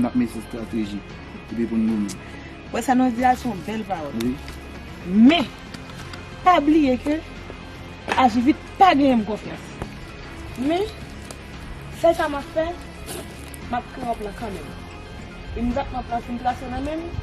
Nap mete strateji epi pou n goumen. Wè sa nou di a se yon bèl pawòl. Wi. Men, pa bliye ke Ajivit pa genyen m konfyans. Men, sèl sa m ap fè, m ap kreye yon plan kanmenm. Imediatman plan fin trase nan men m,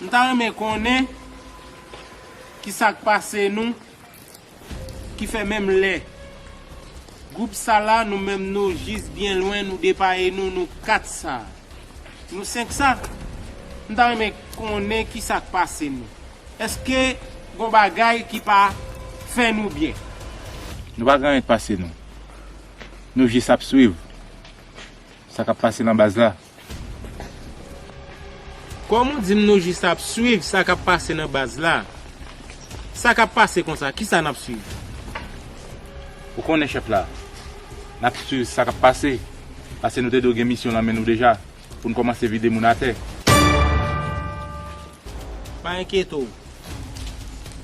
M ta renmen konnen kisak pase nou ki fè menm lè gwoup sa la nou menm nou jis byen lwen nou depaye nou nou 4 sa nou 5 sa m ta renmen konnen kisak pase nou eske gon bagay ki pa fè nou byen. Nou pa gen anyen k pase nou. Nou jis ap swiv sa k ap pase nan baz la. Kòm ou dim nou jis ap swiv sa kap pase nan baz la. Sa kap pase konsa kisa nap swiv. Ou konnen chèf la. Nap swiv sa kap pase. Pase nou te dwe gen misyon nan men nou deja. Poun kòmanse vide moun atè. Pa enkyete w.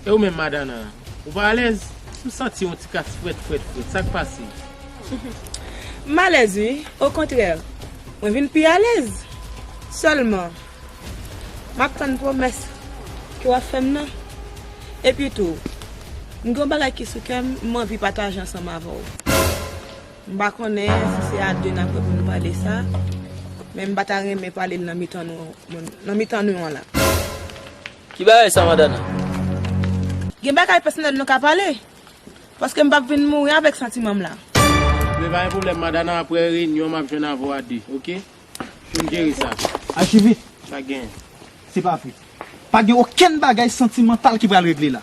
E ou menm Madana? Ou pa alèz? M santi yon ti kas frèt frèt frèt. Sa k pase? M alèz wi. Okontrè, mwen vin pi alèz. Sèlman, m ap tann pwomès ke w ap fè m nan. Epitou, m gen yon bagay ki sou kè m, m anvi pataje ansanm avè w. M pa konnen si se a 2 n ap reponn pale sa, men m pa ta renmen pale l nan mitan nou moun, nan mitan nou an la. Ki bagay sa madan an? Gen bagay pèsonèl nou ka pale, paske m p ap vin mouri avèk santiman m la. Men pa gen pwoblèm madan an aprè reyinyon m ap jwenn avè w a 2, ok? Pou n jere sa. Achive! Sa genyen. Se pa vre. Pa gen okenn bagay santimantal ki pral regle la.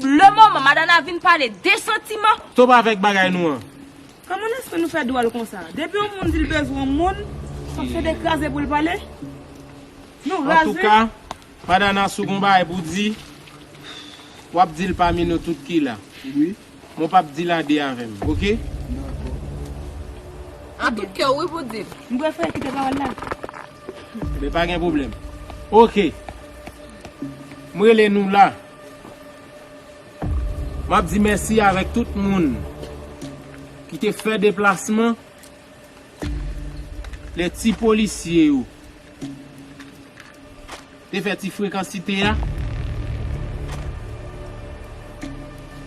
Le moman madana vin pale de santiman. Stop avek bagay nou an. Kman lespri nou fè dwòl konsa. Depi yon moun dil bezwen yon moun fòk se de kraze poul pale? Nou raz wi. Antouka madana si w gon bagay pou di wap dil pami nou tout ki la wi mwen pap dil a 2 avèm ok dako. An tout kè w wi pou dil. M prefere kite pawòl la. Ebyen pa gen pwoblèm ok m rele nou la. Map di mèsi avèk tout moun ki te fè deplasman lè ti polisye yo te fè ti frekansite a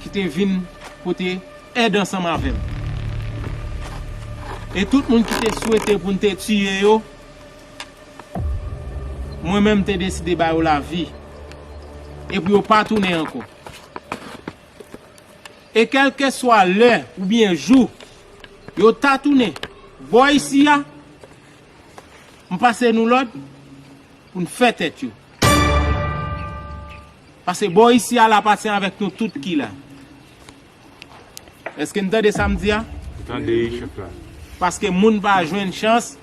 ki te vin pote èd ansanm avèm e tout moun ki te swete poun te tiye yo. Mwen menm te deside ba yo lavi e pou yo pa tounen ankò. E kèlkeswa lè oubyen jou yo ta tounen bò isi a, m pase nou lòd pou n fè tèt yo. Pase bò isi a l apatyen avèk nou tout ki la. Eske n tande sa m di a? Ou tande wi chèf la. Paske moun pa jwenn chans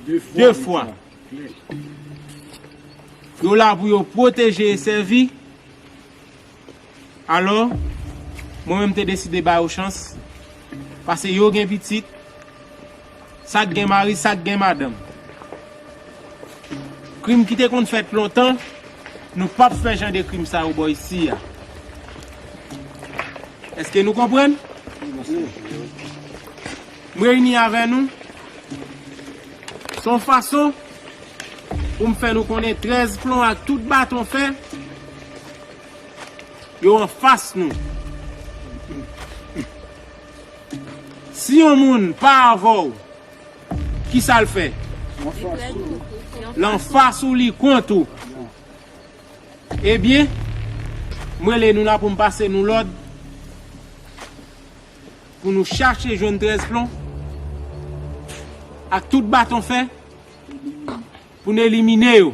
2 fwa. Yo la pou yo pwoteje e sèvi. Alò, mwen menm m te deside ba yo chans. Pase yo gen pitit. Sak gen mari sak gen madanm. Krim ki te konn fèt lontan nou pap fè jan de krim sa yo bò isi a. Eske nou konprann? M reyini avè nou son fason pou m fè nou konnen 13 plon ak tout baton fè yo anfas nou. Si yon moun pa avè w, ki sa l fè? L anfas ou li kont ou. Ebyen, m rele nou la pou m pase nou lòd pou nou chache jwenn trèz plon ak tout baton fè pou n elimine yo.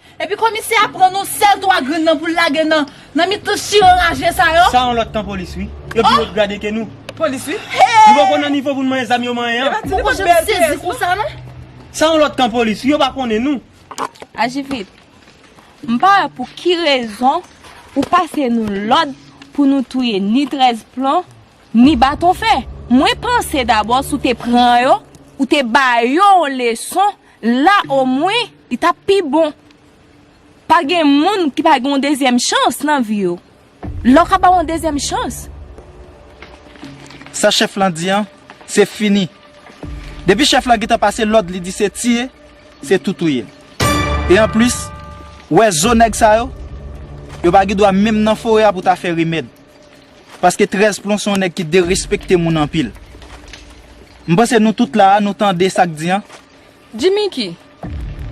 Epi komisè a pran nou sèl 3 grenn nan poul lage nan nan mitan chire raje sa yo. Sa yon lòt kan polis wi. Yo pi wot grade ke nou. Polis wi. Nou poko nan nivo pou nou manyen zam yo manyen an. Mwen poko janm sezi konsa non. Sa yon lòt kan polis wi yo pa konnen nou. Aji vit. M pa wè pou ki rezon ou pase nou lòd pou nou touye ni 13 plon ni baton fè. Mwen panse dabò si w te pran yo ou te ba yo yon leson La o mwen li tap pi bon. Pa gen moun ki pa gen yon dezyèm chans nan vi yo. La w ka ba w yon dezyèm chans. Sa chèf lan di an, se fini. Depi chèf lan gentan pase lòd li di se tiye, se tou touye. E anplis, wè zo nèg sa yo, yo pa gen dwa menm nan forè a pou ta fè rimèd. Paske 13 plon se yon nèg ki derespekte moun anpil. M panse nou tout la a nou tande sa k di an. Jimiki,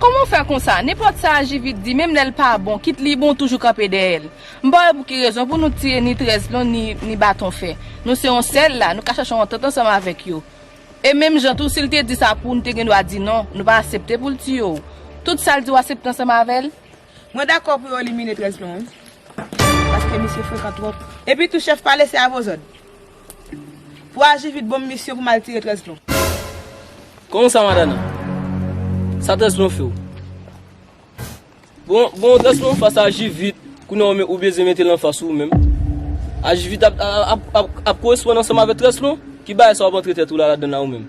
Kòman w fè konsa? Nenpòt sa JV t di menm lè l pa bon, kit li bon w toujou kanpe dèyè l. M pa wè pou ki rezon pou nou tiye ni 13 plon ni baton fè. Nou se yon sèl la, nou ka chèche yon antant ansanm avèk yo. E menm jan tou si l te di sa pou w nou te gen dwa di non, nou pa asepte pou l tiye w. Tout sa l di w asepte ansanm avè l? Mwen dakò pou yo elimine 13 lan wi paske misye frekan twòp. Epi tou chèf pale se avozòd pou aji vit bonm misyon pou mal tire 13 lan. Kòman sa madana? Sa 13 lan few? Bon bon 13 lan anfas aji vit kounye a ou bezwen metel anfas ou menm? Aji vit ap koresponn ansanm avèk 13 lan? Ki bagay sa wap antre tèt ou la ladann la ou menm?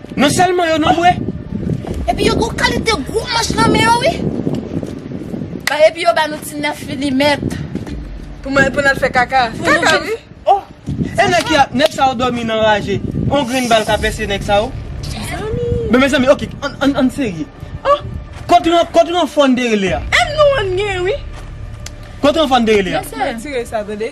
Non selman yo non bwe. Epi yo gon kalite gwo manch nan men yo wi. Ba epi yo ba nou ti 9 milimet. Pou mwen pou nal fè kaka. Kaka wi. Oh e nèg ki ap nèg sa yo dòmi nan raje on grenn bal ka pèse nèg sa yo. Mezanmi. Men mezanmi ok an an serye. Oh kot ren kot renfò n te rele a. Em nou an gen wi. Kot renfò n te rele a. Nan tire sa tande.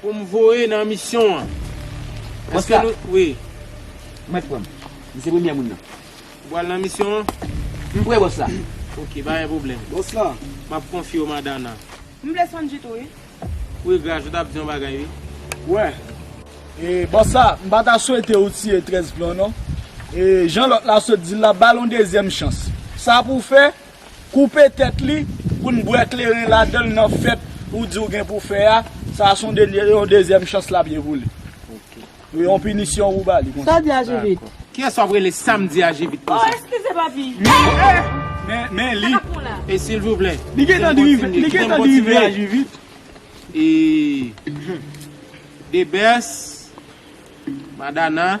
Pou m voye nan misyon an. Èske nou. Konsta. Wi. Mèt pran m. M se premyè moun nan. Ou pral nan misyon an? M pre bòs la. Ok, pa gen pwoblèm. Bòs la. M ap konfye w Madana. M vle Sanji tou wi. Wi Graj, ou t ap di yon bagay wi. Wè. E bòs la, m pa ta swete ou tiye 13 plan w non. E jan lòt la sot di l la, ba l yon dezyèm chans. Sa pou w fè? Koupe tèt li poun bwè kleren ladanl nan fèt ou diw gen pou fè a, sa son yon dezyèm chans lap ye pou li. Li yon pinisyon ou bali konsa. Sa w di a Jivit? Kiyès wap rele sam di a Jivit konsa? Oh eskize papi. Men li. E silvouplè. Li gentan drive a Jivit. E the best madana.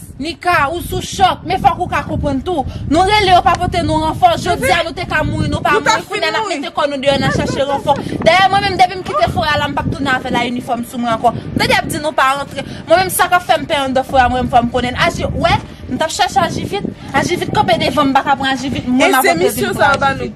Nika, ou sou chòk, men fòk ou ka konprann tou. Nou rele yo pa pote nou ranfò, jodi a nou te ka mouri nou pa mouri, kounye a nap mete kò nou deyò nan chache ranfò. Dayè mwen menm depi m kite forè a la m pap tounen avè la inifòm sou mwen ankò. M tande yap di nou pa rantre, mwen menm sa kap fèm pè andan forè a mwen menm fòm konnenn. Aji, wè, m tap chache aji vit, aji vit kanpe devanm m paka pran aji vit, mwen map antre vin pran aji vit.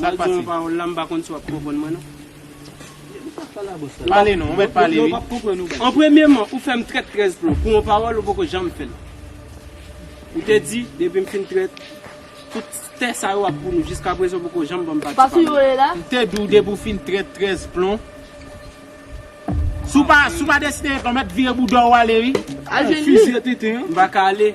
Mal di yon pawòl la m pa konn si w ap konprann mwen non. Pale non, ou mèt pale wi. An premyeman, ou fè m trèt trèz plon pou yon pawòl ou poko janm fè l. Ou te di depi m fin trèt, tout tè sa yo ap pou nou. Jiskaprezan ou poko janm ban m pati pa m nan. M te di w depi w fin trèt trèz plon, si w pa deside ret la, ou mèt vire bouda w ale wi. Al jwenn li. M pa ka ale.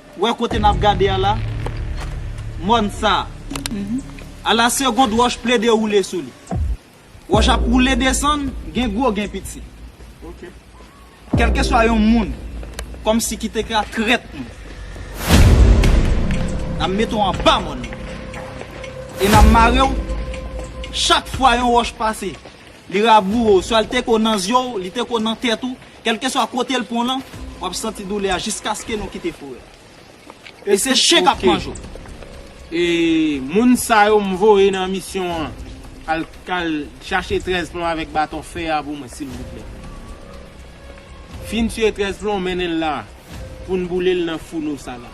Wè kote nap gade a la? Mòn sa a. A la segond wòch plede woule sou li. Wòch ap woule desann, gen gwo gen piti. Kèlkeswa yon moun, kòmsi ki te ka trèt nou, n ap mete w anba mòn nan. E n ap mare w, chak fwa yon wòch pase, li raboure w, swa li te ko nan zye w, li te ko nan tèt ou, Kèlkeswa kote l pran lan, w ap santi doulè a jiskaske nou kite forè a. E se chen k ap manje w. E moun sa yo m voye nan misyon an, al al chache 13 plon avèk baton fè a pou mwen silvouplè. Fin tiye 13 plon, mennen l la a, pou n boule l nan founo sa la.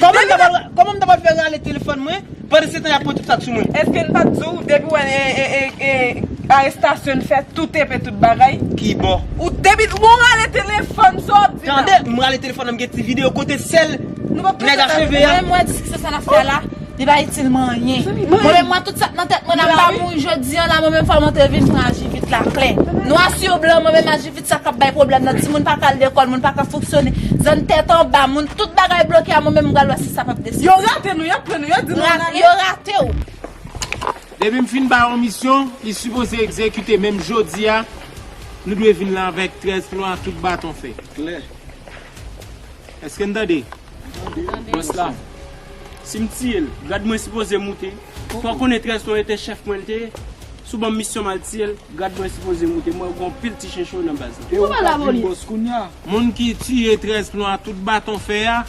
Koman m ta pral fè rale telefòn mwen pandansetan y ap pran tout sa k sou mwen? Eske n pa t di w depi w wè arestasyon n fè tout enpe tout bagay? Ki bò? Ou depi w wè w rale telefòn sa w ap di la? Tande, m rale telefòn nan m gen ti videyo kote sèl nèg a cheve a. Mwen menm wè diskisyon sa n ap fè la li pa itil mwen anyen. Mwen menm wè tout sa k nan tèt mwen la m pa mouri jodi an la mwen menm fò m antre vin pran ajivit la klè. Nwa sur blan mwen menm ajivit. Sa kap bay pwoblèm nan, timoun pa ka al lekòl, moun pa ka fonksyone, zòn tèt anba, moun tout bagay bloke a mwen menm m pral wè si sa pap deside. Yo rate nou, yo pran nou, yo di nou ann ale. Yo rate w. Depi m fin bay yon misyon, li sipoze egzekite menm jodi a, nou dwe vin la avèk 13 plan ak tout baton fè. Klè. Eske n tande? Boss la Sim tiyel grad mwen sipoze moute Fò konnen 13 ton ete chèf mwen lite sou banm misyon mal tiyel grad mwen sipoze moute mwen gon pil ti chen cho nan baz la. Ew ka vin boss kounya. Moun ki tiye 13 plon a tout baton fè a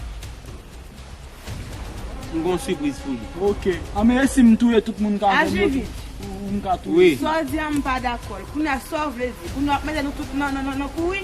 m gon sipriz pou li. Ok anmey esi m touye tout moun ka jwenn yo tou ou m ka touye. Saw di an m pa dakol. Kounya saw vle di. Kounya wap mete nou tout nan kouri.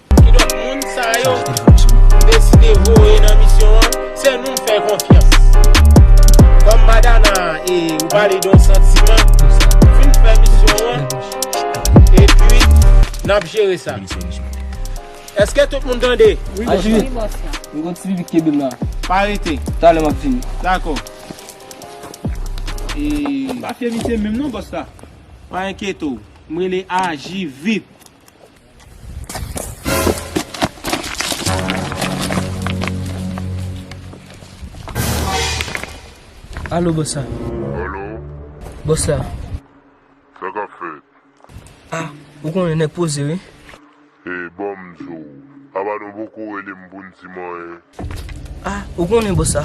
Kidonk moun sa yo m deside voye nan misyon an, se nou m fè konfyans. Kòm Madana e ou pale de yon santiman, fin fè misyon an epi n ap jere sa. Èske tout moun tande? Wi bòs la. Wi bòs la. M gen yon ti pipi k kenbe m la. Pa rete. Talè m ap vini. Dakò. E. M pa fye misye menm non bòs la. Pa enkyete w. M rele aji vit. Alo bòs la Alo Bòs la Sa kap fèt A, ou konnen nèg poze wi E, bòm di w Aba nou poko rele m pou n di manyen Ah ou konnen bossa,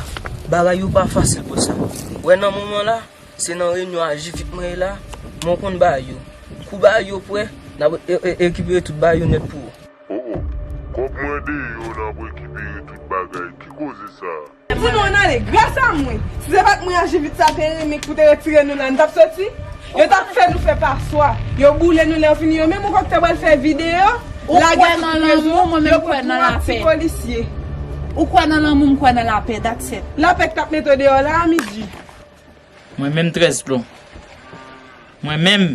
bagay yo pa fasil bossa, ou wè nan moman la, se nan reyinyon ajivit mwen ye la, men ou konn bagay yo, kou bagay yo prè, nap rekipere tout bagay yo nèt pou ou. Oh oh, kòb mwen deyò nap rekipere tout bagay, ki koze sa? Pou nou ann ale, gras a mwen, si se pat mwen ajivit sa te renmen k pou te retire nou la, nou tap soti? Yo tap fè nou fè paswa. Yo boule nou lè yo fini yo menm ou kwè ki ta pral fè videyo lagè sou rezo yo pran 3 ti polisye. Ou kwè nan lanmou m kwè nan lapè that's it. Lapè ki tap mete w deyò la a midi. Mwen menm 13 plon. Mwen menm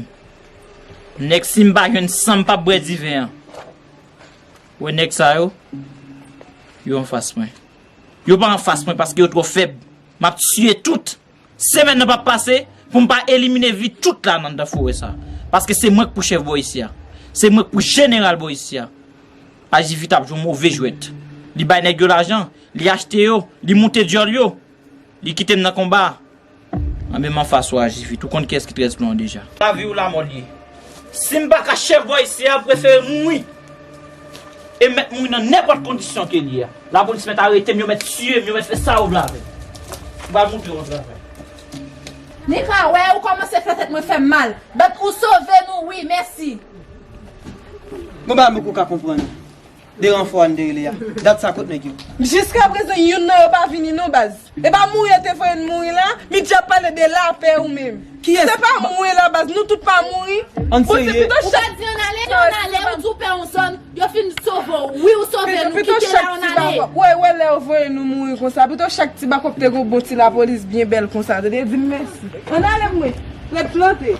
nèg sim pa jwenn san m pap bwè diven an. Wè nèg sa yo yo anfas mwen. Yo pa anfas mwen paske yo twò fèb. Map tiye tout. Semèn nan pap pase pou m pa elimine vi tout la nan dan forè sa. Paske se mwen k pou chèf bò isi a. Se mwen k pou jeneral bò isi a. Ajivit ap jwe move jwèt. Li bay nèg yo lajan. Li achte yo. Li moute dyòl yo. Li kite m nan konba a. Anben m anfas ou Ajivit. Ou konn kiyès ki trèz plan an deja. Lavi ou lamò l ye. Sim paka chef voice a prefere mouri e met mouri nan nenpot kondisyon ke li ye a la police met aretem yo met tiyem yo met fe sa yo vle avem m pral moutre yon travay. Ni ka wè ou komanse fè tèt mwen fèm mal but ou sove nou wi mèsi. Bon bagay mwen poko ka konprann. 2 ranfò a n te rele a dat sa kot nèg yo. Jiska prezan youn nan yo pa vini non baz. Epa mouri yo te voye n mouri la, Midy ap pale de lapè ou menm. Se pa mouri la baz, nou tout pa mouri. Ann serye. Ou pa di ann ale, lè w ann ale ou di w pè yon zòn, yo fin sove w. Wi ou sove nou, kite la ann ale. Ou wè, ou wè lè yo voye nou mouri konsa, pito chak ti bako te gen yon bon ti lapolis byen bèl konsa te te di m mèsi. Ann ale mwen, ret plante.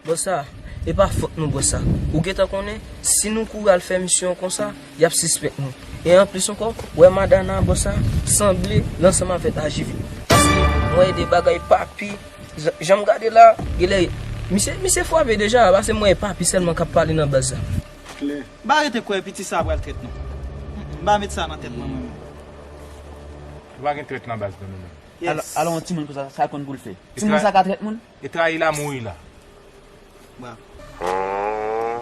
Bon sa, E pa fot nou bò sa. Ou gentan konnen, si nou kouri al fè misyon konsa, y ap sispèk nou. E anplis ankò, ou wè Madana bò sa, sanble l ansanm avèk AJV. Paske, m wè de bagay Papi, jan m gade la, gen lè, misye, misye fwape deja, paske m wè e Papi sèlman k ap pale nan baz la. Klè. M pa rete kwè piti sa a pral trèt non. M pa met sa nan tèt mwen, mwen menm. Ou pa gen trèt nan baz nou, nou menm. Yes. Al, al wè yon timoun konsa, sa l konn pou l fè? Timoun sa ka trèt moun? E trayi la mouri la bra. Aah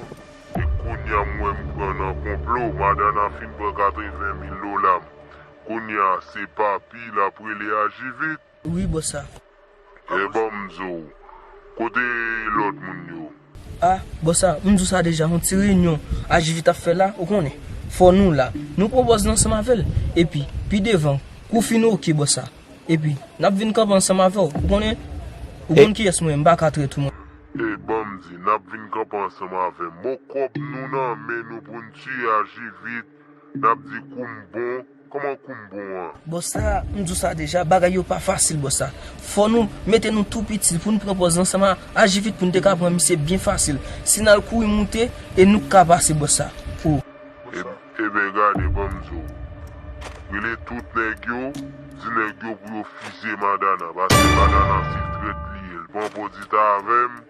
e kounya m wè m pran nan konplo madana fin pran 80 mil dola m kounya se papi lap rele aji vit. Ui bò sa. Ebanm zow kote lot moun yo. Ah bon sa m di w sa deja yon ti reyinyon HJV t ap fè la ou konnen fò nou la nou pran pòz nou ansanm avè l epi pi devan kou w fin ok bò sa epi n ap vin kanpe ansanm avè w ou konnen ou konn kiyès mwen ye m pa ka trèt ou mwen. Ey ban m di n ap vin kanpe ansanm avè m bon kòb nou nan men nou pou n tiye HJV n ap di kou m bon. Koman koum bon an. Bossa m di w sa deja bagay yo pa fasil bossa fò nou mete nou tou piti pou nou pran pòz lan sèlman aji vit pou nou te ka pran misye byen fasil si n al kouri moute e nou k ka pase bossa oh. Eben gade ban m di w rele tout nèg yo di nèg yo pou yo fizye madana paske madana se trèt li ye l pran pòdita avè m.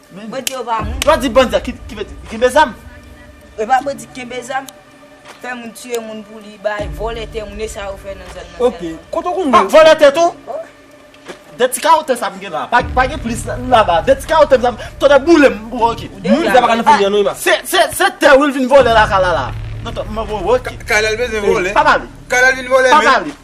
Bandi yo pa moun. Lwa di bandi a ki vle di kenbe zam. E pa vle di kenbe zam. Fè moun tiye moun pou li bay, vòlè tè moun e sa yo fè nan zòn nan sèlman. Pa vòlè tè tou? De ti kawo tè sa m gen la, pa gen plis laba. De ti kawo tè sa m, tonnè boule m pou ok. Moun sa pa ka nan fanmi an non Emma. Se tè ou l vin vòlè la kay la la. Kay la l bezwen vòlè. Pa pale. Kay la l vin vòlè menm.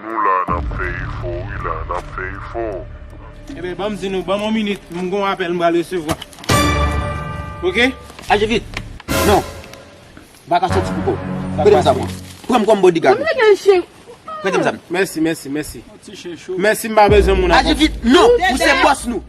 Nou la nap fè efò wi la nap fè efò. Ebyen banm di nou banm on minit m gon apèl m pral resevwa ok. Aji vit non m paka soti pou kòw prete m zam lan pranm kòm bodigad ou prete m zam nan. Mèsi mèsi mèsi mèsi m pa bezwen moun ak. Aji vit non ou se bòs nou.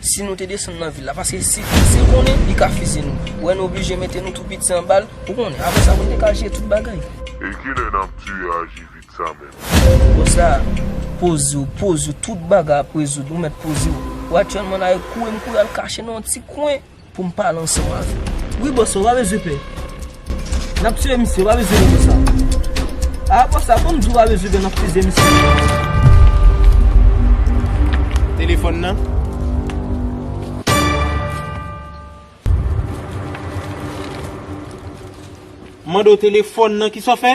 Si nou te desann nan vil la. Paske si l konnen, li ka fizye nou. Wè nou oblije mete nou tou piti anba l, ou konnen. Apre sa, nou te ka jeye tout bagay. E ki lè n ap dwe aji vit sa menm? Konsa, poze w, poze w. Tout bagay ap rezoud. Ou mèt poze w. Ou aktyèlman nan Ayot. Kouri m kouri al kache nan yon ti kwen. Pou m pale ansanm avè w. Wi bòs ou pa bezwen pè. N ap tiye misye, ou pa bezwen pè sa. A bòs a kon m di w pa bezwen pè n ap tiye misye. Telefòn nan. M mande w telefòn nan, kisa w fè?